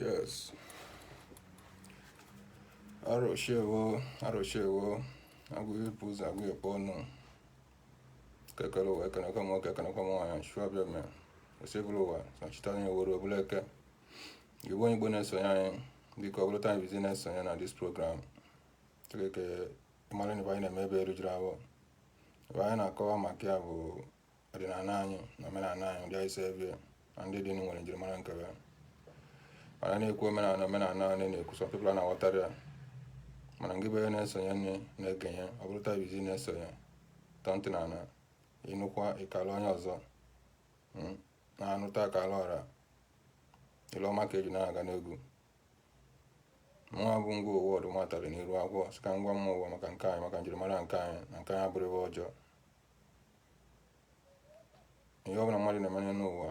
Yes. Arụshewo, arụshewo, agụ ịpụ ụzọ agụ ịkpọ ọnụ. Eke kere ụwa, ekenekwa m nwoke, ekenekwa m nwaanyị, chụọ bịa mee. Osebụrụwa, sọchita onye were obere eke. Ị bụ onye Igbo na-esonye anyị biko ọ bụrụ taa bụ izizi ị na-esonye na this program Chineke ị mara na anyị na-eme ebe erujuru ahụ ebe anyị na-akọwa maka ya bụ ọdịnala anyị na omenala anyị ụdị anyị si ebi na ndị dị nwere njirimara nke ya mana na-ekwu omenala omenala anyị na-ekwu some people na-aghọtarọ ya mana ngị bụ onye na-esonye nne na-ekenye ọ bụrụ taa bụ izizi ị na-esonye tọọ ntị n'ala ị nụkwa ị kaala onye ọzọ na a nụta a kaala ọra ile ọma ka eji na-aga n'ogwu mụnwa bụ ngwa ụwa ọdụ m batarị n'iru akwụkwọ sị ka m gwama ụwa maka nke anyị maka njirimara nke anyị na nke anyị abụrọ ibe ọjọọ ihe ọbụla mmadụ na-eme n'ụwa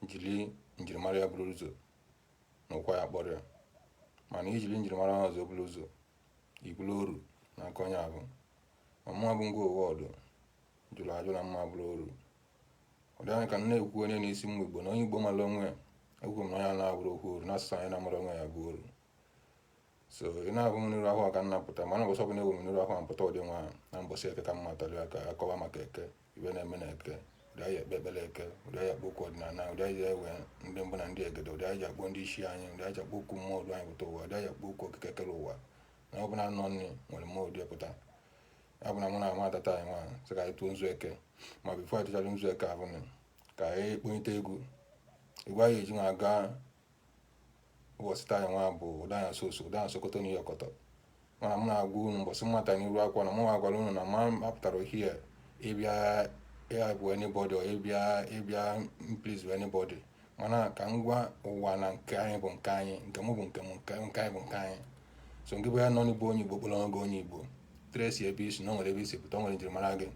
jiri njirimara ya buru ụzọ na ụkwa ya kpọrọ ya mana i jiri njirimara ha ọzọ buru ụzọ ị bụlụ oru n'aka onye ahụ ma mụwa bụ ngwa ụwa ọdụ jụrụ ajụ na m ama bụrụ oru ọ dị anya ka m na-ekwu onye na-esi mma igbo na onye igbo mara onwe ya ekwu m na onye na-abụrụ okwu oru n'asụsụ anyị na-amarọ onwe ya bụ oru so ị na-ahụ m n'iru ahụ a ka m na-apụta mana ụbọchị ọbụla ewu m n'iru ahụ a m pụta ụdị nwa ahụ na mbọsị eke ka m batara ya ka a kọwaa maka eke ibe na-eme na eke ụdị anyị ekpe ekpere eke ụdị anyị akpọ oku ọdịnala ụdị anyị ewe ndị mbụ na ndị egede ụdị anyị akpọ ndị isi anyị ụdị anyị akpọ oku mmụọ du anyị pụta ụwa ụdị anyị akpọ oku okike kere ụwa na ọ bụla anọ nne nwere mmụọ du pụta ya bụ na mụ na-abata taa nwa sị ka anyị tụọ nzu eke ma before anyị tụchara nzu eke ahụ nụ ka anyị kponyite egwu egwu anyị eji nwa aga ụbọchị taa nwa bụ ụda anya soso ụda anya sokoto n'ihe ọkọtọ mana m na-agwa unu mbọsị m bata n'iru akwụkwọ na mụnwa gwara unu na m apụtarọ ohie ịbịa ịbụ anybody or ịbịa ịbịa please anybody mana ka m gwa ụwa na nke anyị bụ nke anyị nke mụ bụ nke m nke nke anyị bụ nke anyị so ngị bụ onye nọ n'igbo onye igbo kpọrọ ọgụ onye igbo trace ebe i si na o nwere ebe i si pụta o nwere njirimara gị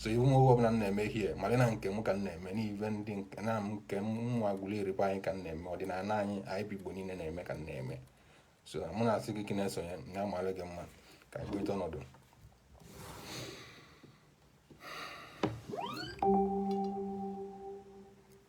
so ị hụ m ọbụla m na-eme ihe mara na nke m ka m na-eme n'ive ndị nke na m nke nwa gwụrụ erikwa anyị ka m na-eme ọdịnala anyị anyị bụ igbo niile na-eme ka m na-eme so mụ na-asị gị ka ị na-esonye na amalụ gị mma ka anyị kweta ọnọdụ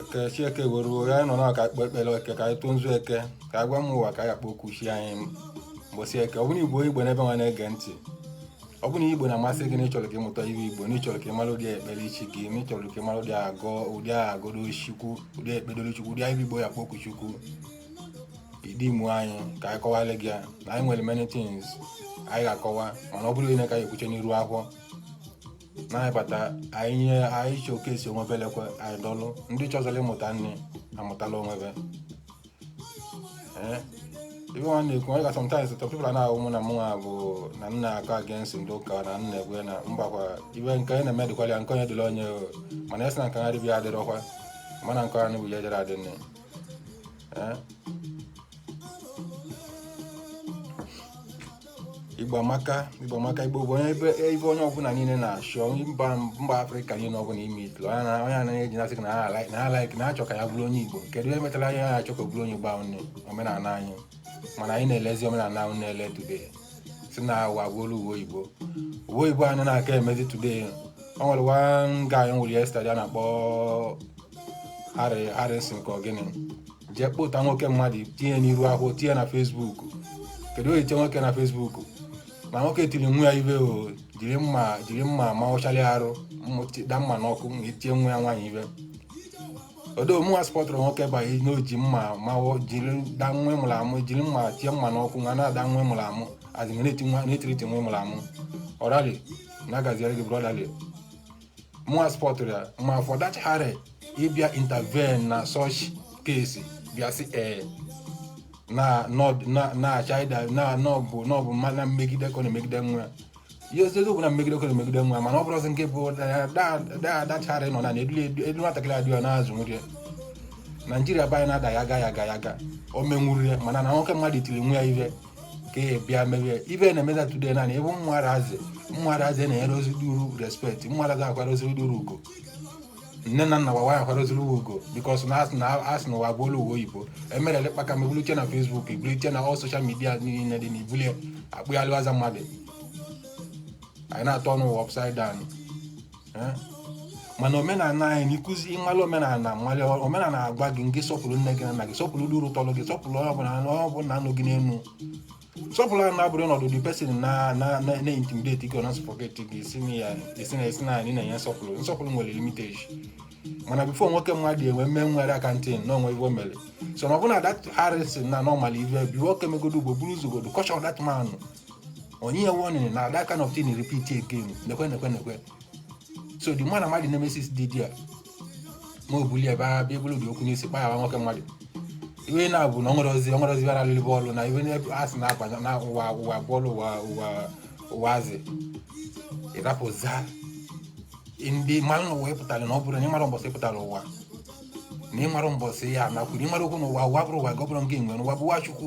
eke chi eke were uwe anyị nọ na ka e kpee ekpere eke ka anyị tụọ nzu eke ka anyị gwa m ụwa ka anyị kpọkuo chi anyị mbọsị eke ọ bụrụ igbo igbo n'ebe nwa na-ege ntị ọ bụrụ na igbo na-amasị gị na ị chọrọ ka ị mụta ive igbo na ị chọrọ ka ị mara ụdị ekpere chi gị na ị chọrọ ka ị mara ụdị agọ ụdị agọdo chukwu ụdị ekpedoro chukwu ụdị anyị igbo ya kpọkuo chukwu ịdị mụ anyị ka anyị kọwalị gị ya na anyị nwere many things anyị ga-akọwa mana ọ bụrụ onye ka anyị ekwuche n'iru akwụkwọ na anyị bata anyị showcase onwe belekwa anyị dọlụ ndị chọzọrọ ịmụta nne amụtala onwebe eh? ive nwa na-ekwu onye ka sometimes some people a na-ahụ mụ na mụnwa bụ na m na-akọ against ndị ụka na m na-egwe na mbakwa ive nke onye na-eme dịkwala ya nke onye dịla onye mana asị na nke ha dịbịa adịrọkwa mma na nke ha nụbụ ya jere adị nne eh? igbo amaka igbo amaka igbo bụ onye ebe ebe onye ọbụla niile na-achọ mba mba afrịka niile ọbụla ime itlu onye na- onye anaghị eji na-asị na ha like- na ha like na ha chọ ka ya bụrụ onye igbo kedu ihe metara anyị na-achọ ka ọ bụrụ onye igbo ahụ nne omenala anyị mana anyị na-elezi omenala ahụ na-ele today sị na ụwa abụọla ụwa oyibo ụwa oyibo anyị na-aka emezi today o nwere one guy m hụrụ yesterday a na-akpọ Harry Harrison ka ọ gịnị jee kpụta nwoke mmadụ tinye n'iru akwụkwọ tinye na Facebook kedu onye tinye nwoke na Facebook na nwoke tiri nwa ya ive o jiri mma jiri mma ma ọchara arụ da mma n'ọkụ ma etie nwa ya nwaanyị ive ọdọ mụnwa supportụrọ nwoke banye na o ji mma ma jiri da nwa ị mụrụ amụ jiri mma tie mma n'ọkụ nwa na-ada nwa ị mụrụ amụ asị na etiriti nwa ị mụrụ amụ ọrali na-agaziere gị brotherly mụnwa supportụrọ ya ma for that Harry ịbịa intervene na such case bịa sị ee na nọd- na na child a na ọ bụ na ọ bụ mma na mmegide ka ọ na-emegide nwa ya ihe eziokwu bụ na mmegide ka ọ na-emegide nwa ya mana ọ bụrọzi nke bụ that Harry nọ na na edu edu- edu nwatakịrị adịghị ọ na-azụ nri ya naijiria be anyị na-ada ya aga ya aga ya aga o menwuru ya mana na nwoke mmadụ tiri nwa ya ihe ka e bịa merie ive na-emezi today naanị ebe ụmụazị ụmụazị enyerọzi ndị mụrụ respect ụmụazị akwarọzi ndị mụrụ ugwu nne na nna gbawa ya akwarọziri ugwu because na asị na asị na ụwa abụọla ụwa oyibo emere elekpa ka mebulite na Facebook ebulite na all social media niile dị na ibulie akpụghalịwaza mmadụ anyị na-aturn ụwa upside down eh? mana omenala anyị na-akụzi ịmala omenala mmalị omenala agwa gị nke sọpụrụ nne gị na nna gị sọpụrụ ndị uru tọrọ gị sọpụrụ onye ọbụla na onye ọbụla nọ gị n'elu sọpụrụ a na-abụrụ ọnọdụ the person na na na intimidate gị na suffocate gị esi na ya esi na esi na anyị na-enye nsọpụrụ nsọpụrụ nwere limitation mana before nwoke mmadụ enwe mme nwere aka ntị na o nwe ive mere so na ọbụna that harrison na normal ive bụ nwoke megodo ugbo buru ụzọ godo caution that man o nye ya warning na that kind of thing repeat again nekwe nekwe nekwe so the man amadi nemesis dị there ma o bulie ebe a bịa bụrụ dị okwu n'isi kpa ya nwoke mmadụ ive na-abụ na ọnwere ozi ọnwere ozi bịara alụlụ bọọlụ na ive a sị na-akpa na ụwa ụwa bọọlụ ụwa ụwa ụwa zi ị rapụzia ndị mmanụ na ụwa ịpụtara na ọ bụrụ na ịmara mbọsị ịpụtara ụwa na ịmara mbọsị ya nakwuru ịmara okwu na ụwa ụwa bụrụ ụwa gị ọ bụrụ nke enwe na ụwa bụ ụwa chukwu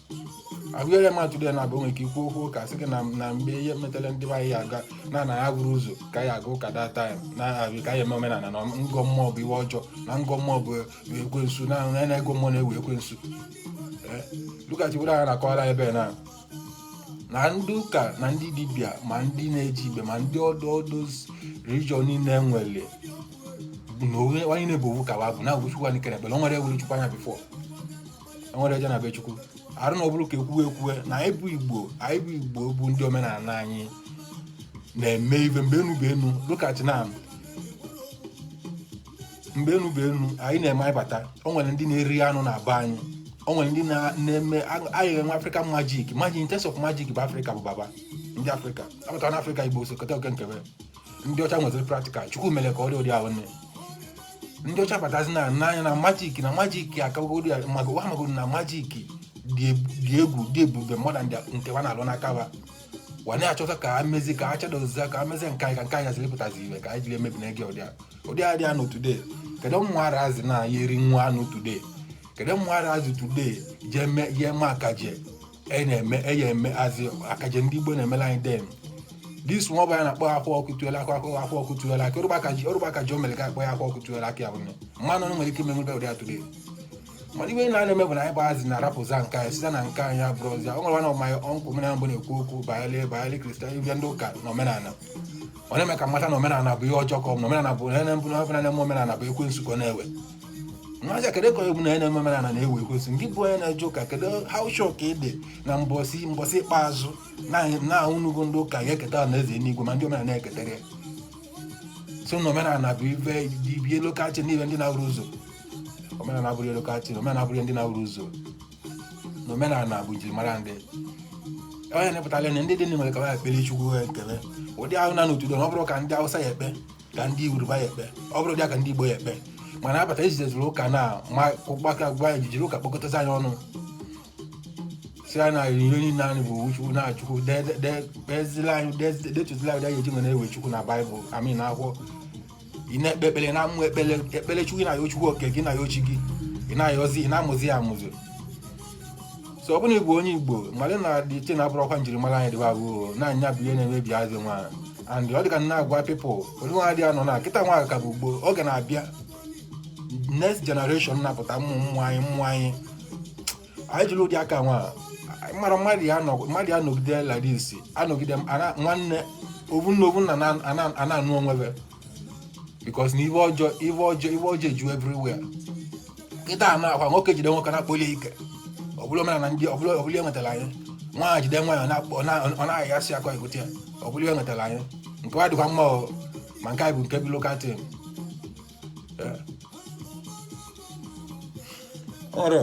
abụghị mmadụ today na abụ nwere ike ikwu okwu ụka sị gị na na mgbe ihe metara ndị be anyị aga na na ya bụrụ ụzọ ka ya aga ụka that time na abịa ka ya eme omenala na ịgọ mmụọ bụ ive ọjọọ na ịgọ mmụọ bụ ekwensu na na na ịgọ mmụọ na-eve ekwensu Eh, lụkachi were anya na-akọwara anyị ebe na na ndị ụka na ndị dibịa ma ndị na-eje igbe ma ndị other other religion niile nwere na onye onye na-ebu owu ka wa bụ na chukwu anyị kere ekpere o nwere ahụrụ chukwu anya before o nwere eje na be chukwu arụ na ọ bụrụ ka ekwuwe ekwuwe na anyị bụ igbo anyị bụ igbo bụ ndị omenala anyị na-eme ive mgbe enu bụ enu lụkachi na mgbe enu bụ enu anyị na-eme anyị bata o nwere ndị na-eri anụ na be anyị o nwere ndị na-eme anyị enwe african magic magic in terms of magic bụ africa bụ baba ndị africa apụtara na africa igbo so keta oke nkebe ndị ọcha nweziri practical chukwu mere ka ọ dị ụdị ahụ nne ndị ọcha batazi n'ana anyị na magic na magic akagogodi ya maka wa magoro na magic dị eb- dị egwu dị ebube mmadụ ndị nke wa na-alụ n'aka wa wa na-achọta ka a mezi ka a chadozie ka a mezie nke anyị ka nke anyị haziri pụtazi ive ka anyị jiri emebi na ege ụdị a ụdị a dị anụ today kedu ụmụ ara azị na ya eri nwa anụ today kedu ụmụ ara azị today jee me- jee ma akaje e na-eme e ya emezi akaje ndị igbo na-emela anyị then this nwa ọba a na-akpọ akwa ọkụkọ tiwara akị akwa akwa ọkụkọ tiwara akị ọrụba aka ji ọrụba aka ji o mere ka akpọ ya akwa ọkụkọ tiwara akị ya bụ na mmadụ ọnụ nwere ike ime nwebe ụdị a today mana ive na na-eme bụ na anyị gbazi na-arapụzi nke anyị site na nke anyị abụrọzi o nwere one of my uncle m mbụ na-ekwu okwu banyere banyere christian ive ndị ụka na omenala ọ na-eme ka mmata na omenala bụ ihe ọjọọ ka ọ bụ na omenala bụ na mbụ na omenala bụ ekwensu ka ọ na-ewe ajụ kedu ka e kwu na na-eme omenana na-eve ekwensu nke bụ onye na-eje ụka kedu how sure ka ị dị na mbọsị mbọsị ikpeazụ na unu bụ ndị ụka ga-eketa anaeze enigwe ma ndị omenala na-eketara ya so na omenala bụ ive ive lụkachi na ive ndị na-ahụrọ ụzọ omenala abụrọ ihe lụkachi omenala abụrọ ihe ndị na-ahụrọ ụzọ na omenala bụ njirimara ndị onye na-epụtara na ndị dị n'ime ka ha ekpere chukwu ha ekele ụdị ahụ na n'otudo na ọ bụrụ ka ndị awụsa ya ekpe ka ndị yoruba ya ekpe ọ bụrụ dịka ndị igbo ya ekpe mana abata ejidezuru ụka na ma gbaka gwa ya jijiri ụka kpọkọtazi anyị ọnụ sị anyị na ihe niile anyị bụ owu chukwu na chukwu de- de- de- kpezila anyị de- detụzila anyị anyị eji nwere ewe chukwu na baịbụl I mean na akwụkwọ ị na-ekpe ekpere na amụ ekpere ekpere chukwu ị na-ayọ chukwu oke gị na-ayọ chi gị ị na-ayọzi ị na-amụzi ya amụzi so ọ bụrụ na ị bụ onye igbo mmadụ na dị iche na-abụrọkwa njirimara anyị dịba bụ na ya bụ ihe na-emebi azị nwa and ọ dịka na-agwa people ụdị nwa adịghị anọ na kịta nwa ka bụ gboo oge na-abịa next generation na-apụta ụmụ ụmụ anyị ụmụ anyị anyị jiri ụdị aka nwa mara mmadụ ya nọ- mmadụ ya nọgide like this anọgide m- ana- nwanne ovu nna ovu nna a na-anụ onwe be because na ive ọjọọ ive ọjọọ ive ọjọọ eju everywhere kịta na akwa nwoke jide nwoke na-akpọ ya ike ọbụla omenala ndị ọbụla ọbụla ewetara anyị nwaanyị jide nwaanyị ọ na-akpọ- ọ na- ọ na-ahịa asị akwa egote ya ọbụla ewetara anyị nke wa dịkwa mma o, ma nke anyị bụ nke bụ local tim ọrụ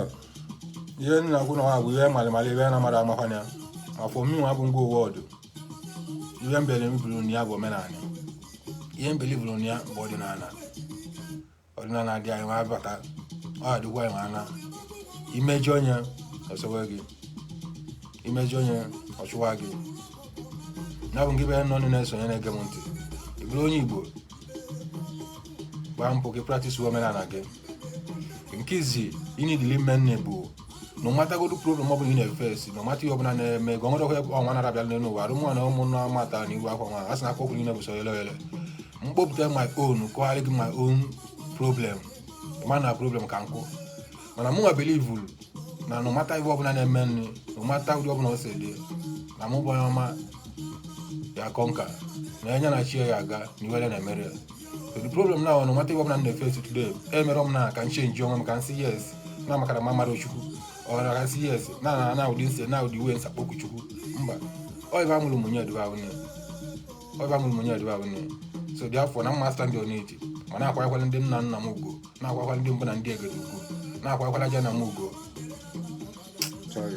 ihe nna kwụ na nwa bụ ihe malịmalị ebe a na-amara amakwa na ya afọ mmiri nwa bụ ngwa ụwa ọdụ ihe mbere m bụrụ na ya bụ omenala ihe mbeli bụrụ na ya bụ ọdịnala ọdịnala dị anyị nwa abata ọ adịkwa anyị nwana i mejọọ ya o sowe gị i mejọọ ya ọ chụwa gị ya bụ nke be nọ ndị na-esonye na-ege m ntị ị bụrụ onye igbo gbaa mbọ ka ị practice omenala gị nke izi ị na-edili ime nne bụ na ọ matagodu problem ọ bụla ị na-efesi na ọmata ihe ọbụla na-eme gị ọnwere ọhịa ọnwa nara abịala n'elu ụwa arụmụ na ụmụ na amata na iwu akwa nwa a sị na akwa okwu niile bụ so yele yele mkpọpụta my own kọgharị gị my own problem ma na problem ka nkụ mana mụ nwa belivulu na na ọmata ihe ọbụla na-eme nri na ọmata ụdị ọbụla o si dị na mụ bụ onye ọma ya kọnka na enye na chi ya aga na iwere na-emere ya the problem now no matter ọbụla m na-efe today emere m na ka m change onwe m ka m sị yes na makara ma mmadụ chukwu ọra ka m sị yes na na na ụdị nse na ụdị uwe m si akpọku chukwu mba ọ ive amụrụ mụnye ediwe ahụ nne ọ ive amụrụ mụnye ediwe ahụ nne so therefore na mma stand on it ma na-akwakwala ndị nna nna m ugo na-akwakwala ndị mbụ na ndị egede ugo na-akwakwala ajana m ugo Sorry.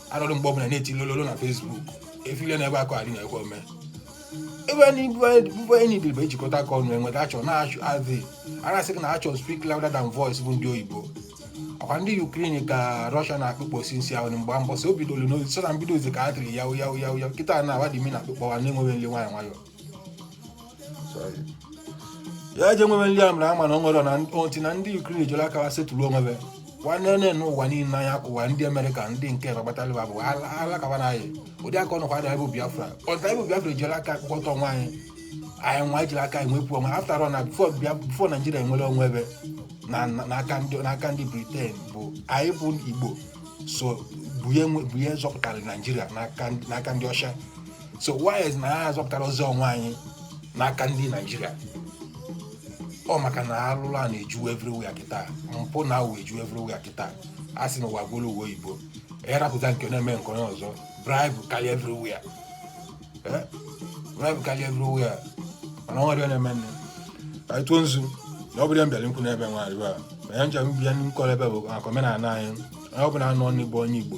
anọdụ mgbe ọbụla na-eti lololo na Facebook efile na ebe akụ adị na ekwe ome ebe anyị bụ enyi dị bụ ejikọta aka ọnụ enweta achọ na-achụ adị a na-asị na action speak louder than voice bụ ndị oyibo ọkwa ndị Ukraine ka Russia na-akpụkpọ since ahụ mgbe mbọsị o bidoro n'ozi so na mbido ozi ka a tiri yawu yawu yawu yawu kịta na awa dị mi na akpụkpọwa na-enweghị nle nwayọ nwayọ ya eje nwebe nri amara ama na ọ nwere na oti na ndị Ukraine ejere aka ha setụrụ onwebe nwanne nne n'ụwa niile anya kụwa ndị amerịka ndị nke nọgbatara bụ alakaba na anyị ụdị aka ọnụkwa adịghị bụ biafra ọta ịbụ biafra ejere aka akpọkọta onwe anyị anyị nwa ejere aka anyị nwepụ onwe after all na before naijiria enwere onwe ebe n'aka ndị Britain bụ anyị bụ igbo so bunye zọpụtara naijiria n'aka ndị ọcha so why na ha azọpụtarọzi onwe anyị n'aka ndị naijiria ọ maka na alụlụ ana eju everywhere kịta mpụ na awụwọ eju everywhere kịta a sị na ụwa gwụrụ uwe oyibo erapụta nke na-eme nke onye ọzọ bribe karịa everywhere Eh? bribe karịa everywhere mana ọ nwere na-eme nne ka a tụọ nzu na ọ bụrọ ya m bịara nkwu n'ebe nwaanyị a ma ya njem bịa nkọrọ ebe bụ maka omenala anyị onye ọbụla anụ ọnụ bụ onye igbo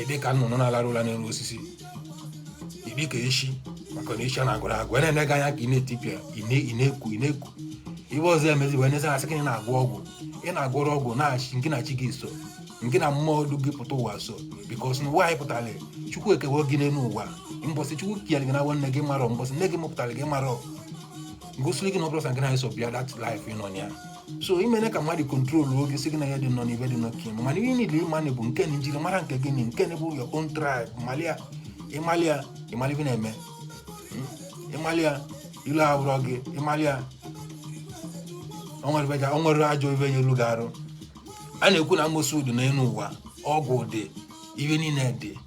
ịdị ka nnụnụ na-alarụ ụla n'elu osisi ịdị ka eshi maka na eshi anarọ agwụ agwụ na-ene gị anya ka ị na-etipịa ị na- ị na-eku ị na-eku ibe ọzọ emezi wee nesa asị ka ị na-agwọ ọgwụ ị na-agwọrọ ọgwụ na-achị nke na chi gị so nke na mmụọ du gị pụta ụwa so because na ụwa anyị pụtara chukwu ekewe gị n'elu ụwa mbọsị chukwu kere gị na nwanne gị marọ mbọsị nne gị mụpụtara gị marọ ngosiri gị na ọ bụrụ sa nke na eso bịa that life ị nọ na ya so imene ka mmadụ control oge si gị na ya dị nọ na ife dị nọ kin mana ihe niile ịmanị bụ nke na njiri mara nke gịnị nke na bụ your own tribe malia ịmalia ịmali ife na-eme Mm? ịmalia ilu abụrọ gị ịmalia o nwerọ ife- o nwerọ ajọ ife ya-elu gị arụ a na-ekwu na amosu dị n'elu ụwa ọgwụ dị ife niile dị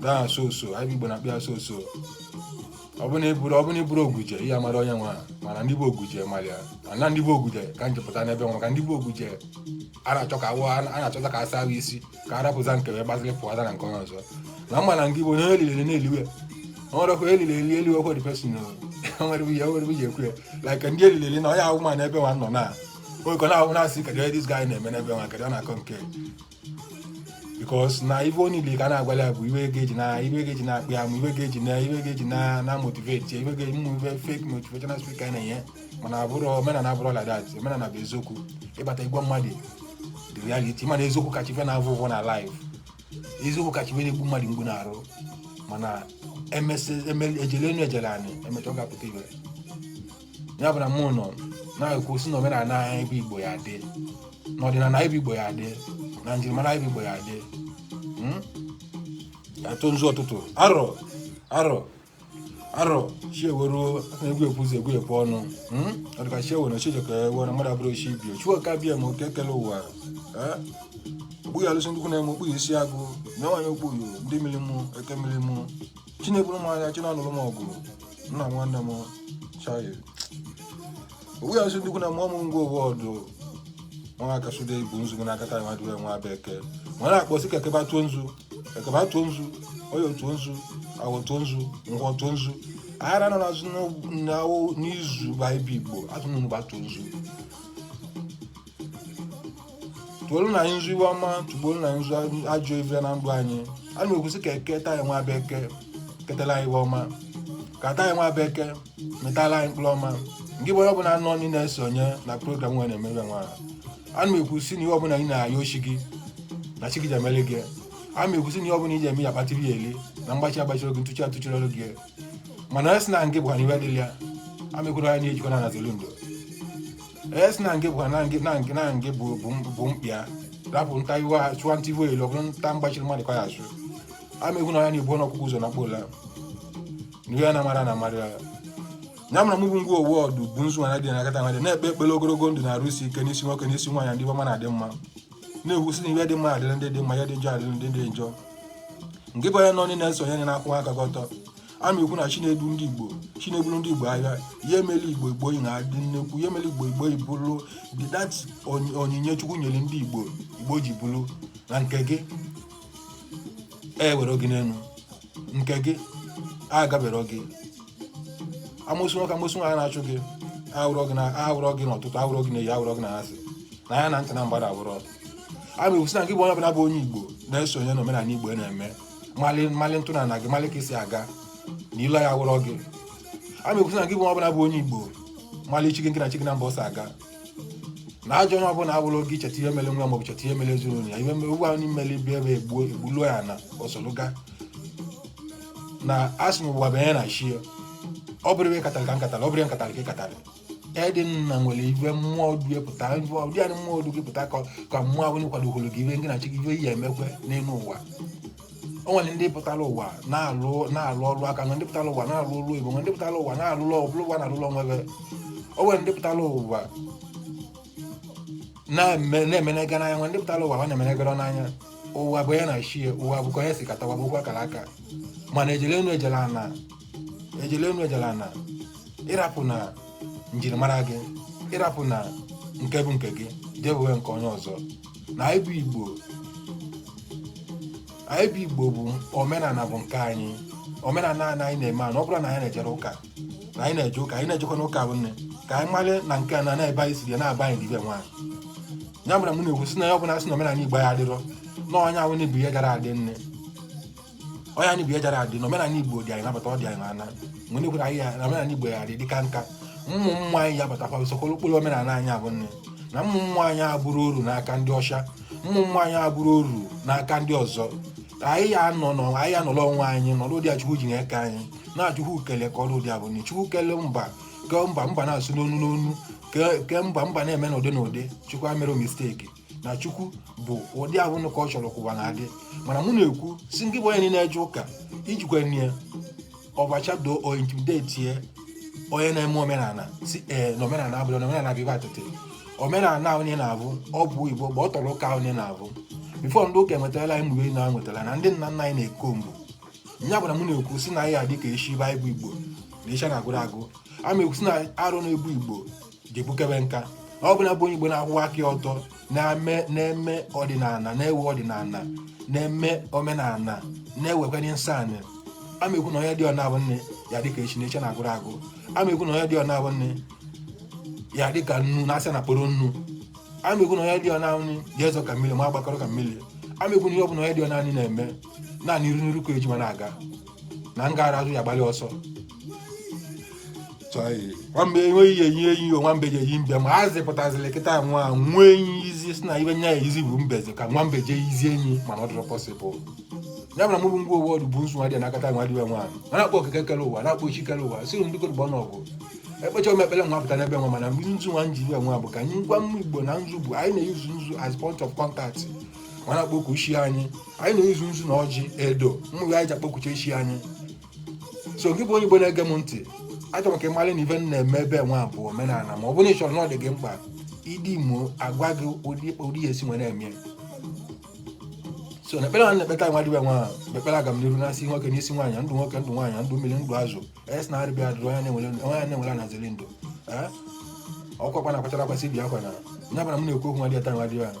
na sọsọ anyị bụ igbo na-akpụ ya sọsọ ọ bụ na ị bụrụ ọ bụ na ị bụrụ oguje ihe amara onye nwa mana ndị bụ oguje mara ya mana ndị bụ oguje ka m jepụta n'ebe nwa maka ndị bụ oguje a na-achọ ka awụ a na-achọta ka asa ha isi ka a rapụza nke wee gbaziri pụọta na nke onye ọzọ na mma na nke igbo onye eliri na-eliwe nwere ọkụ eliri eli elu ọkụ the person nwere ihe nwere ihe ekwu ya like ndị eliri eli na onye ahụ ma n'ebe nwa nọ na nwekọ na-ahụ na-asị kedu ihe this guy na-eme n'ebe nwa kedu ọ na-akọ nke because na ife niile ka na-agwala ya bụ ife ga-eji na ife ga-eji na-akpụ ya ma ife ga-eji na ife ga-eji na na motivate ya ife ga-eji mụ ife fake motivational speaker na-enye mana omenala abụrọ like that omenala bụ eziokwu ịbata igwe mmadụ the reality mana eziokwu kacha ife na-avụ ụvụ na life eziokwu kacha ife na-egbu mmadụ mgbu n'arụ mana emesị ejele enu ejele anị emecha ọ ga-apụta ife ya bụ na mụ nọ na-ekwu si na omenala anyị bụ igbo ya dị na ọdịnala anyị bụ igbo ya dị na njirimara anyị bụ igbo ya dị Hmm? atụ nzu ọtụtụ arọ arọ arọ chiewere aka egwu ekwu ụzọ egwu ekwu ọnụ Hmm? ọ dịka chiewe na chijọ ka ewe na mmadụ abụrọ chi ibe ya chukwu oke abịama oke kele ụwa Eh? okpughi alụsị ndị ikwu nne m okpughi isi agwụ na nwaanyị okpughi ndị mmiri mụ eke mmiri mụ chi na-eburu m aya chi na-anụrụ m ọgụ nna nwanne m chayo owu ya nsị ndịkwu na mụọ m ngwa ụwa ọdụ nwa aka sude ibu nzu gị n'aka taa nwa dịwe nwa bụ eke ma ọ na-akpọsi ka eke bịa tụọ nzu eke bịa tụọ nzu oye tụọ nzu awọ tụọ nzu nkwọ tụọ nzu ahịa anọ na-azụ n'awụ n'izu be anyị bụ igbo atụnụ bịa tụọ nzu tụọrọ nụ anyị nzu iwe ọma tụgbuoro nụ anyị nzu ajọ ife na ndụ anyị ana m ekwusi ka eke taa nwa bụ eke ketara anyị iwe ọma ka taa nwa bụ eke mịtara anyị mkpụrụ ọma ngị bụ onye ọbụla nọ ndụ na-esonye na program nwa a na-eme nwa ahụ ana m ekwusi na ihe ọbụla ị na-ayọ chi gị na chi gị je-emere gị ana m ekwusi na ihe ọbụla ị ji eme ya kpatiri ya eli na mgbachi agbachirọ gị ntụchi atụchirọ gị mana asị na ngị bụkwa n'iwe dịrị ya ana m ekwu na ya ejikọ na nazelu ndụ asị na ngị bụkwa na ngị na ngị na ngị bụ bụ m- bụ mkpịa rapụ nta iwe ha chụwa nta iwe elu ọ bụrụ nta mgbachiri mmadụ ka ya achụ ana m ekwu na ya na-ebu ọkụkọ ụzọ nakpuo ụla n'iwe ya na mara na mara ya ya mara mụ bụ ngwa owu ọdụ bụ nzu nwa na dị n'aka taa nwa dị na-ekpe ekpere ogologo ndụ na arụ isi ike n'isi nwoke n'isi nwaanyị ndị ọma na-adị mma na-ekwusi na ihe dị mma adịrị ndị dị mma ihe dị njọ adịrị ndị dị njọ ngị bụ onye nọ ndụ na-esonye na na-akwụ aka gị ọtọ ana m ekwu na chi na-edu ndị igbo chi na-eburu ndị igbo aya ihe mere igbo igbo ji na-adị nnekwu ihe mere igbo igbo ji bụrụ that onyinye chukwu nyere ndị igbo igbo ji bụrụ na nke gị ewerọ gị n'elu nke gị agaberọ gị amosu nwoke amosu nwaanyị na-achụ gị awụrọ gị na awụrọ gị n'ụtụtụ awụrọ gị n'ehihie awụrọ gị n'anyasị na anya na ntị na mgbada awụrọ ana m ekwusi na gị bụ onye ọbụla bụ onye igbo na-esonye n'omenala igbo na-eme mali mali ntọnana gị mali ka i si aga na ile ya awụrọ gị ana m ekwusi na gị bụ onye ọbụla bụ onye igbo mali chi gị na chi gị na mba ọsọ aga na ajọ onye ọbụla wụrụ gị cheta ihe mere nwa maọbụ cheta ihe mere ezinụlọ ya ihe mere ụgwọ anyị mere ibe ebe egbuo egbuluo ya na osoluga na asị na ụwa bụ onye na chi ya ọ bụrọ iwe ị katara ka m katara ọ bụrọ iwe m katara ka ị katara edi nna nwere ive mmụọ du ya pụta ụdị anyị mmụọ du gị pụta ka ka mmụọ ahụ kwadogoro gị ive gị na chi gị ive i ye-emekwe n'elu ụwa o nwere ndị pụtara ụwa na-alụ na-alụ ọrụ aka na ndị pụtara ụwa na-alụ ọrụ ugbo ndị pụtara ụwa na-alụ ọrụ pụtara ụwa na-alụ ọrụ onwe ve o nwere ndị pụtara ụwa na-eme na-emenega n'anya o nwe ndị pụtara ụwa ha na-emenegara n'anya ụwa bụ onye na chi ya ụwa bụ ka onye si kata ụwa bụkwa akara aka mana ejele enu ejele ana ejele enu ejele ana ị rapụna njirimara gị ị rapụna nke bụ nke gị jee bụwe nke onye ọzọ na anyị bụ igbo anyị bụ igbo bụ omenala bụ nke anyị omenala anyị anyị na-eme anụ ọ bụrọ na anyị na-ejerọ ụka na anyị na-eje ụka anyị na-ejekwanụ ụka bụ nne ka anyị mara na nke a na n'ebe anyị siri ya na be anyị dibe nwaanyị ya mere m na-ekwusi na onye ọbụla sị na omenala igbo ya adịrọ na onye ahụ na-ebu ihe gara adị nne onye anyị bụ ya jara adị na omenala igbo dị anyị nabata ọ dị anyị n'ana mgbe ndị kwere anyị ya na omenala igbo ya adị dịka nka ụmụ mmụọ anyị ya batakwa usokoro okpuru omenala anyị abụ nne na ụmụ mmụọ anyị abụrụ oru n'aka ndị ọcha ụmụ mmụọ anyị abụrụ oru n'aka ndị ọzọ anyị ya anọ nọ anyị ya nọrọ onwe anyị nọrọ ụdị a chukwu ji na-eke anyị na chukwu kele ka ọrụ ụdị abụ nne chukwu kele mba kee mba mba na-asụ n'onu n'onu kee kee mba mba na-eme n'ụdị n'ụdị chukwu emerọ misteki na chukwu bụ ụdị ahụ nụ ka ọ chọrọ ka ụwa na-adị mana mụ na-ekwu si ngị bụ onye na-eje ụka ijikwa nye ọbachado o intimidetie onye na-eme omenala si ee na omenala abụrụ na omenala bụ ive atịtị omenala ahụ niile na-abụ ọ bụ igbo mgbe ọ tọrọ ụka ahụ niile na-abụ before ndị ụka enwetala anyị mgbe na nwetara na ndị nna nna anyị na-eko mgbu nya gwara m na-ekwu si na anyị adị ka eshi anyị bụ igbo na eshi na-agwụrọ agwụ ama ekwu si na arụ na-ebu igbo ga-egbukebe nka ọ bụla bụ onye Igbo na-akwụwa aka ọtọ na-eme ọdịnala na-ewe ọdịnala na-eme omenala na-ewekwanye nsọ anyị ama ekwu na onye dị ọna abụ nne ya dịka echi na echi na-agwụrọ agwụ ama ekwu na onye dị ọna abụ nne ya dịka nnu na asị na-akpọrọ nnu ama ekwu na onye dị ọna nri ya ezo ka mmiri ma agbakọrọ ka mmiri ama ekwu na ihe ọ bụla onye dị ọna anyị na-eme naanị iru n'iru ka eji ma na-aga na ọ na-agarọ azụ ya gbalị ọsọ nwambe enweghị ya eyi eyi nwambe ji eyi mbe ma a zịpụtazịrị kịta nwa nwee enyi izi si na ibe nya ya izi bụ mbezi ka nwambe jee izi enyi mana ọ dịrọ possible ya mere mụ bụ ngwa ụwa ọdụ bụ nsu nwa dị nakata nwa dibịa nwaanyị a na-akpọ okike kere ụwa na-akpọ chi kere ụwa siri ndị kodụgbọ n'ọgụ ekpecha ome ekpere nwa pụta n'ebe nwa mana mgbe nzu nwa m ji ebe nwa bụ ka anyị gwa ụmụ igbo na nzu bụ anyị na-eyuzu nzu as point of contact wee na-akpọ oku chi anyị anyị na-eyuzu nzu na ọjị edo mmanya anyị ji akpọku chi anyị so gị bụ onye igbo na-ege m ntị achọrọ m ka ị mara na ive m na-eme ebe nwa bụ omenala ma ọ bụrụ na ị chọrọ na ọ dị gị mkpa ị dm mụ agwa gị ụdị ụdị ya esi were eme so na ekpere ha na-ekpeta nwa dibịa nwa ahụ ekpere agamniru n'isi nwoke n'isi nwaanyị ndụ nwoke ndụ nwaanyị ndụ mmiri ndụ azụ yes na arịbịa adụrụ onye na-enwere onye a na-enwere anaziri ndụ ee ọkwa kwa na-akwachara akwasị bi akwa na nya bara m na-ekwu okwu nwa dị ata nwa dibịa ahụ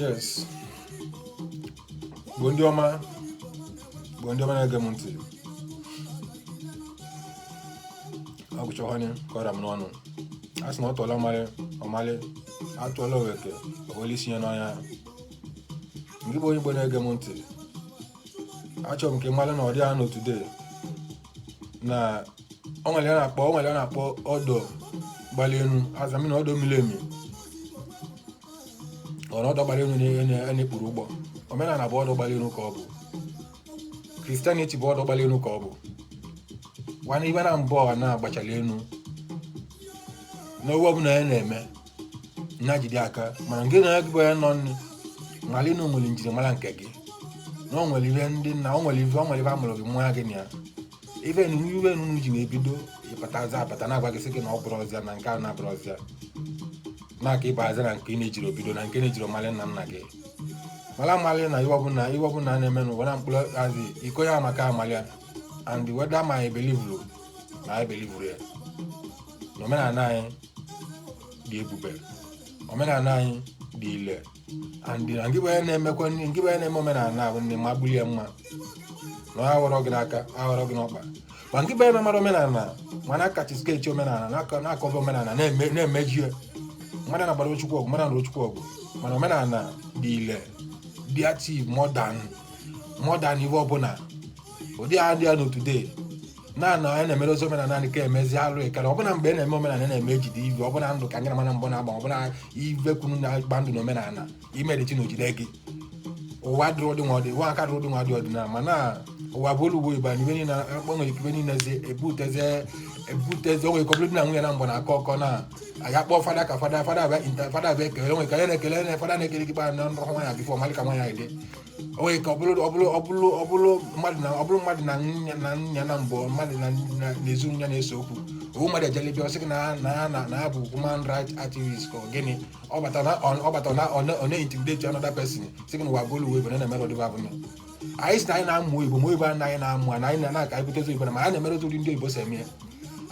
yes igbo ndị ọma igbo ndị ọma na-ege m ntị agụchọhanye kọra m n'ọnụ a sị na atụọla ọmalụ ọ malụ atụọla ofeke o wele isi ya n'ọhịa ngị bụ onye igbo na-ege m ntị achọrọ m ka ị mara na ọ dị anọ today na o nwere ihe a na-akpọ o nwere ihe a na-akpọ ọdọ gbali enu azami na ọdọ miri emi ọ na ọdọ gbali enu na-ekpuru ụgbọ omenala bụ ọdọ gbali enu ka ọ bụ christianity bụ ọdọ gbali enu ka ọ bụ wa na ibe naabọ na-agbachala enu n'owe ọbụla ya na-eme nya jide aka mana nke na agụba ya nọ nne mara na ị nwere njirimara nke gị na o nwere ihe ndị nna o nwere ife o nwere ife a mụrụ gị mụọ gị na ya ife nunu ife nunu ji wee bido ịpatazi apata na-agwa gị sị gị na ọ bụrọzị ya na nke a na abụrọzị ya na ka ị bazi na nke ị na-ejirọ bido na nke na-ejirọ malị nna nna gị mara amalị na ive ọbụla ive ọbụla na-eme n'ụwa na mkpụrụ azị iko ya maka amalị ya and whether ma ị believeru ma ị believerọ ya na omenala anyị dị ebube omenala anyị dị ile and na ngị bụ ya na-emekwa nri ngị bụ ya na-eme omenala ahụ nne ma bulie mma na ọ aghọrọ gị n'aka aghọrọ gị n'ọkpa ma ngị bụ ya na-amarọ omenala ma na-acastigate omenala na-akọ- na-akọba omenala na-eme- na-emeji ya mmadụ na-agbarọ chukwu ọgụ mmadụ na chukwu ọgụ mana omenala dị ile dị active more than more than ive ọbụla ụdị a dị ya nọ today na na anyị na-emere ozi omenala anyị ka emezi alụ ekere ọbụna mgbe a na-eme omenala na-eme ejide ive ọbụna ndụ ka anyị na mmadụ naabọ na-agba ọbụna ive kwunu na-agba ndụ na omenala imere chi na o jide gị ụwa dịrị ụdị nwa ọdị ụwa aka dịrị ụdị nwa dị ọdịnala mana ụwa bụ olu ugbo igba na ive niile akpọ nwere ike ive niile zi ebutezi ebutezi o nwe ike ọ bụrụ di na nwunye naabọ na-akọ ọkọ na anyị akpọ fada ka fada fada abịa inta fada abịa ekele onwe ka ya na-ekele na fada na-ekele gị kpa na ndụ nwaanyị before malị ka nwaanyị dị o nwere ike ọ bụrụ ọ bụrụ ọ bụrụ ọ bụrụ mmadụ na ọ bụrụ mmadụ na nya na nya naabọ mmadụ na na- na ezinụlọ ya na-ese okwu ovu mmadụ ejelebe ọ sị gị na ha- na ha na na ha bụ human right activist ka ọ gịnị ọ bata na ọ ọ bata na ọ na- ọ na-intimidate another person sị gị na ụwa bụrụ ive bụ na na-emere ụdịba abụ ya anyị si na anyị na-amụ igbo ma igbo a anyị na-amụ a na anyị na-aka anyị butezi igbo na ma anyị na-emere otu ụdị ndị oyibo si eme ya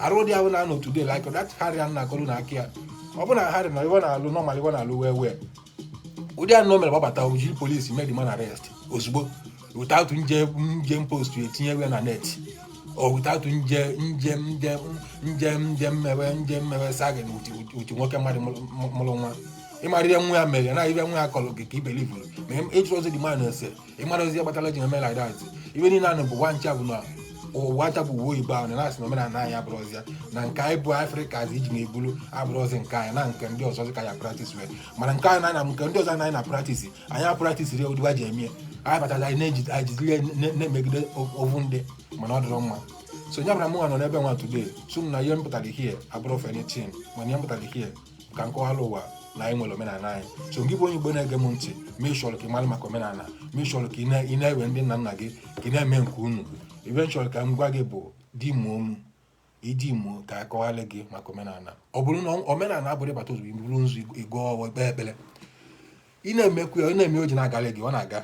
arụ dị ahụ na anọ today like that harry a na-akọlụ na aka ya ọ bụ na harry na ive ọ na-alụ normal ive ọ na-alụ wee wee ụdị anụ mere gbabata o jiri police mee the man arrest ozugbo without nje nje post etinye ive na net or without nje nje nje nje nje mmewe nje mmewe sagin uti nwoke mmadụ mụrụ nwa ị marịrị nwa ya mere na ive nwa ya kọrọ gị ka ị believeru ma ị jụrọzi the man ese ị marọzi kpatara ji eme like that ive niile anụ bụ nwa ncha bụ na ụwa ncha bụ ive oyibo ahụ na na-asị na omenala anyị abụrọzi ya na nke anyị bụ afrịka zi iji na-ebulu abụrọzi nke anyị na nke ndị ọzọ ka ya practice wee mana nke anyị na nke ndị ọzọ anyị na-apractice anyị apracticerọ ya ụdị wa ji eme ya anyị batazi anyị na-eji- anyị jiziri ya na- na-emegide ovu ndị mana ọ dịrọ mma so ya bụ na mụnwa nọ n'ebe nwa today so m na ihe m pụtara here abụrọ for anything mana ihe m pụtara here ka nkọwala ụwa na anyị nwere omenala anyị so gị bụ onye igbo na-ege m ntị ma ị chọrọ ka ị mara maka omenala ma ị chọrọ ka ị na- ị na-ewe ndị nna nna gị ka ị na-eme nke unu ife m chọrọ ka m gwa gị bụ DM mụ ị DM mụ ka m kọwalị gị maka omenala ọ bụrụ na omenala abụrọ ịbata ozugbo iburu nzu ịgọ ọfọ ikpe ekpere ị na-emekwu ya ị na-eme o ji na-agalị gị ọ na-aga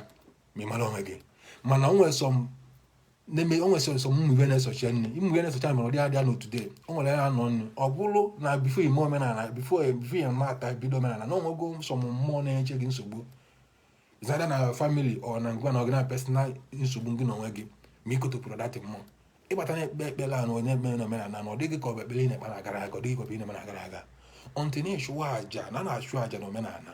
ma ị mara onwe gị mana o nwere some na-eme o nwere some ụmụ ife na-esochi nne ụmụ ife na-esochi mere ọ dị adịa n'otu de o nwere ya nọ nnu ọ bụrụ na before ime omenala before before ị mata bido omenala na o nwego some mmụọ na-enye gị nsogbu either na family ọ na ngwa na ọ gịnwa personal nsogbu gị na onwe gị ma i kotopụrọ that mmụọ ị bata na-ekpe ekpere a na onye mere na omenala na ọ dịghị ka ọ bụ ekpere ị na-ekpe na-agara aga ọ dịghị ka ọ bụ ị na-eme na-agara aga until ị na-achụwa aja na na-achụ aja na omenala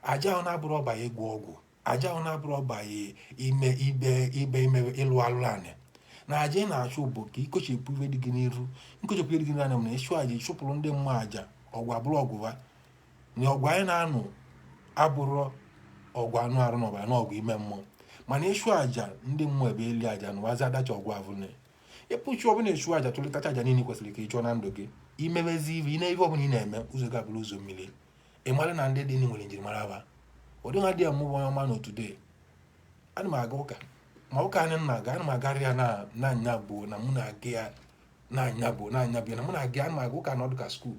aja ahụ na abụrọ ọba ya ịgwọ ọgwụ aja ahụ na abụrọ ọgbaghị ime ife ife ime ịlụ alụlụ anị na aja ị na-achụ bụ ka i kochepụ ife dị gị n'iru nkochepụ ife dị gị n'iru nya bụ na ịchụ aja ịchụpụrụ ndị mmụọ aja ọgwụ abụrọ ọgwụ ha na ọgwụ anyị na-aṅụ abụrọ ọgwụ anụ arụ na ọbara na ọgwụ ime mmụọ mana ịchụ aja ndị mmụọ ebe eli aja na wazi adacha ọgwụ avụne ịpụchụ ọbụla ịchụ aja chụlịtacha aja niile kwesịrị ka ị chụọ na ndụ gị i mebezi ife ị na- ife ọbụla ị na-eme ụzọ gị abụrụ ụzọ mmiri ị mara na ndị dịnụ nwere njirimara ha ụdị nwa dị ya mmụọ ọma na otu dee ana m aga ụka ma ụka anyị na-aga ana m agarị ya na na anya bụ na mụ na-aga ya na anya bụ na anya bụ ya na mụ na-aga ya ana m aga ụka na ọ dị ka school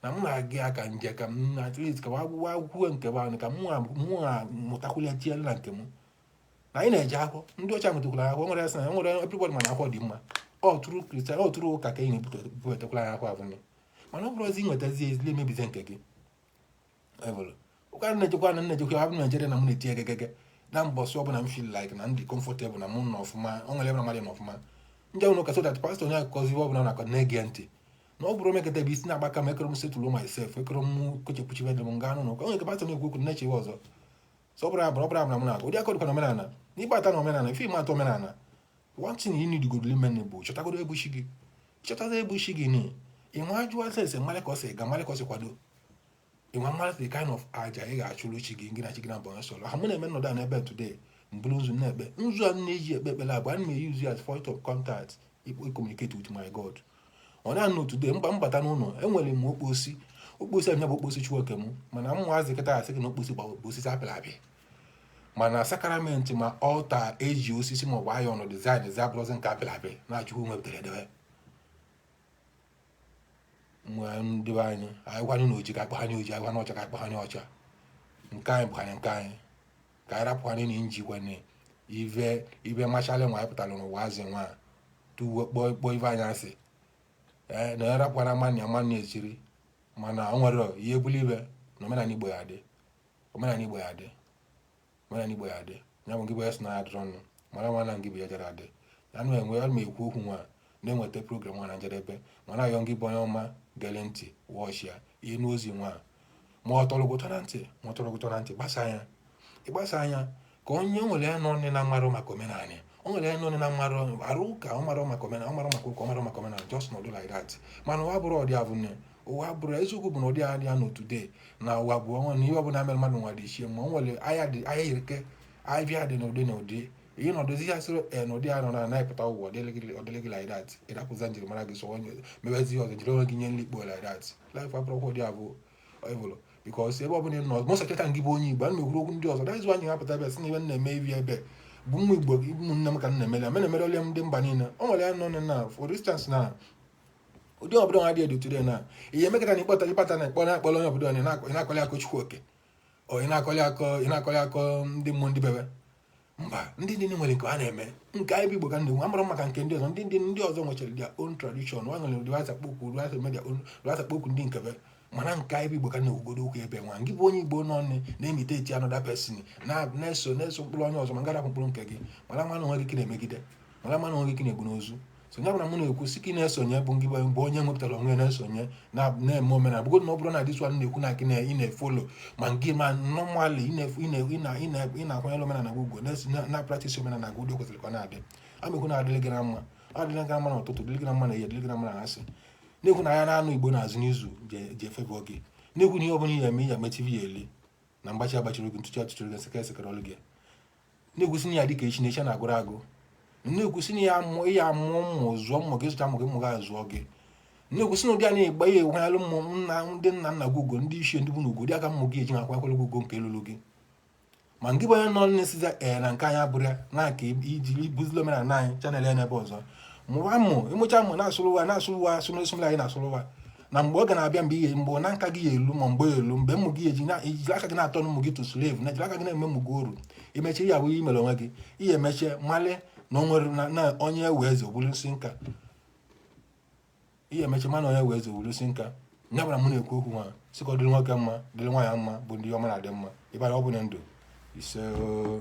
na mụ na-aga ya ka nje ka m na at least ka wa gụwa akwụkwọ nke bụ anyị ka mụ na mụ na mụtakwụlịa tinyere na nke m na anyị na-eje akwụkwọ ndị ọcha mụtakwara akwụkwọ nwere asị na nwere everybody ma na akwụkwọ dị mma ọ through Christian ọ through ụka ka ị na-ebute butekwala anyị akwụkwọ abụnye mana ọ bụrọzị nwetazi ezile emebize nke gị ụka na-ejekwa na na-ejekwa abụ Naijiria na m na-eti egegege na mbọsị ọbụla m feel like na m dị comfortable na mụ nọ ọfụma ọ nwere ebe na mmadụ nọ ọfụma ndị ahụ ụka so that pastor onye akụkọzi ihe ọbụla na-akọ na-ege ntị na ọ bụrụ o mekata ebe isi na-agbaka m ekere m settle myself ekere m kochepụcha ife dị m m ga-anọ n'ụka onye nke pastọ na-ekwu okwu na-eche ihe ọzọ so ọ bụrụ abụrụ ọ bụrụ abụrụ m na-agụ ụdị akọdụkwa na omenala na ị bata na omenala before ị mata omenala one thing you need godo ime bụ chọtagodo onye bụ chi gị chọtago onye bụ chi gị ni ịnwa ajụa ese malị ka o si aga malị ka o si akwado ịnwa malị the kind of aja ị ga-achụrụ chi gị gị na chi gị na bọnyọ sọrọ ha mụ na-eme nọdụ a n'ebe today m buru nzu na-ekpe nzu a na-eji ekpe ekpere abụ ana m e-use ya as point of contact communicate with my god ọ na-anọ today mba mbata n'ụlọ enwere m okposi okposi anya bụ okposi chukwu oke m mana ụmụazị kịta asị gị na okposi bụ osisi a pịrị apị mana sakramenti ma altar eji osisi maọbụ iron design ezi abụrụzi nke apịrị apị na chukwu nwe butere edebe nwa ndị be anyị anyị gwanụ na oji ka akpa ha nye oji anyị gwanụ ọcha ka akpa ha nye ọcha nke anyị bụkanye nke anyị ka anyị rapụkwanye na inji kwanye ive ive machalị nwa anyị pụtara n'ụwa azị nwa a, tuwe kpọọ kpọọ ive anyị asị ee na ya rapụkwara mmanụ ya mmanụ ya esiri mana o nwere ihe bụla ibe na omenala igbo ya-adị omenala Igbo ya-adị omenala Igbo ya-adị ya bụ ngị bụ ya si na ya dịrọ ọnụ mara nwa na ngị bụ ya jere adị ya nụ enwe ya ma ekwu okwu nwa na-eweta program nwa na njedebe ma na-ayọ ngị bụ onye ọma gere ntị wọchị ya ịnụ ozi nwa ma ọ tọrọ gị ụtọ na ntị ma ọ tọrọ gị ụtọ na ntị gbasaa ya ị gbasaa ya ka onye o nwere ya na onye na-amarọ maka omenala o nwere ya na onye na-amarọ arụ ụka ọ marọ maka omenala ọ marọ maka ụka ọ marọ maka omenala just nọdụ like that mana ụwa bụrụ ọdị abụ nne ụwa bụrụ eziokwu bụ na ụdị adị ya na today na ụwa bụ ọnwa na ihe ọbụla mere mmadụ nwa dị ichie ma o nwere ahịa dị ahịa yirike ahịa dị n'ụdị n'ụdị ihe na ọdụzi ya sịrị e na ụdị ya nọ na na-epụta ụwa ọdịlị gị like that ịdapụza njirimara gị so onye mebezi ọzọ jiri onwe gị nye nlikpo like that life abụrọkwa ụdị abụọ ịbụrụ because ebe ọbụla nọ mụ seketa gị bụ onye igbo ana m ekwuru okwu ndị ọzọ daizu anyị hapụta ebe si na ibe na-eme ibi ebe bụ nwa igbo ụmụnne m ka m na-emere mena emere ole ndị mba niile o nwere ya nọ na for instance na ụdị obodo nwa dị edotụrụ na ihe emekọta na ịkpọta ịkpata na ịkpọrọ akpọrọ onye obodo na-akọlị akọ chukwu oke ọ ị na-akọlị akọ ị na-akọlị akọ ndị mmụọ ndị bebe mba ndị ndị nwere nke ha na-eme nke anyị bụ igbo ka ndị nwe amara maka nke ndị ọzọ ndị ndị ndị ọzọ nwechara their own tradition nwa nwere ụdị wa si akpọku ụdị wa si eme ụdị wa si akpọku ndị nke be mana nke anyị bụ igbo ka na-ekwugodo ụka ebe nwa gị bụ onye igbo nọ nne na-imitate another person na-eso na-eso ụkpụrụ onye ọzọ ma ngị arapụ ụkpụrụ nke gị mara nwa na onwe gị ka ị na-emegide mara nwa na onwe gị ka ị na-egbu n'ozu so ya bụ na m na-ekwusi ka ị na-esonye bụ ngị bụ onye nwepụtara onwe na-esonye na-eme omenala bụgodị na ọ bụrụ na this one na-ekwu na gị na ị na-efollow ma ngị ma normally ị na-akwanyere omenala gị ugwu na practice omenala gị ụdị kwesịrị ka ọ na-adị amekwu na adịrị gị na mma adịrị gị na mma na ụtụtụ dịrị gị na mma na ehihie dịrị gị na mma na anyasị na-ekwu na ahịa naanọ igbo na-azụ n'izu ji echebe gị na-ekwu na ihe ọ bụla ị ya-eme ya mechivi ya eli na mgbachi agbachiri gị ntụchi atụchiri gị sekere sekere ọlụ gị na-ekwusi na ị ya-adị ka echi na echi na-agwụrọ agwụ na-ekwusi na ị ya-amụ ị ya-amụ ụmụ zụọ ụmụ gị zụcha ụmụ gị ụmụ gị azụọ gị na-ekwusi na ụdị a na-egba ya enweghara ụmụnna ndị nna nna gị ugwu ndị ichie ndị bụ na ugwu ụdị a ka ụmụ gị eji na-akwanyere gị ugwu nke luru gị ma ngị bụ onye nọ na-esiza ee na nke anyị abụrọ ya na aka ị jiri buzili omenala anyị channel ya n'ebe ọzọ mụwa ụmụ ị mụcha ụmụ na-asụrụ wa na-asụrụ wa asụrụ esụmla anyị na-asụrụ wa na mgbe oge na-abịa mgbe ihe mgbe na nka gị ya-elu ma mgbe ya-elu mgbe ụmụ gị eji na i jiri aka gị na-turn ụmụ gị to slave na i jiri aka gị na-eme ụmụ gị oru i mechie ya bụ ihe mere onwe gị i ya-emecha malụ na o nwere na- na onye wee eze o bulu isi nka i ya-emecha malụ na onye wee eze o bulu isi nka nya bụ na m na-ekwu okwu nwa sị ka ọ dịrị nwoke mma dịrị nwaanyị mma bụ ndị ọma na-adị mma ịbara ọ bụ na ndụ ise oo.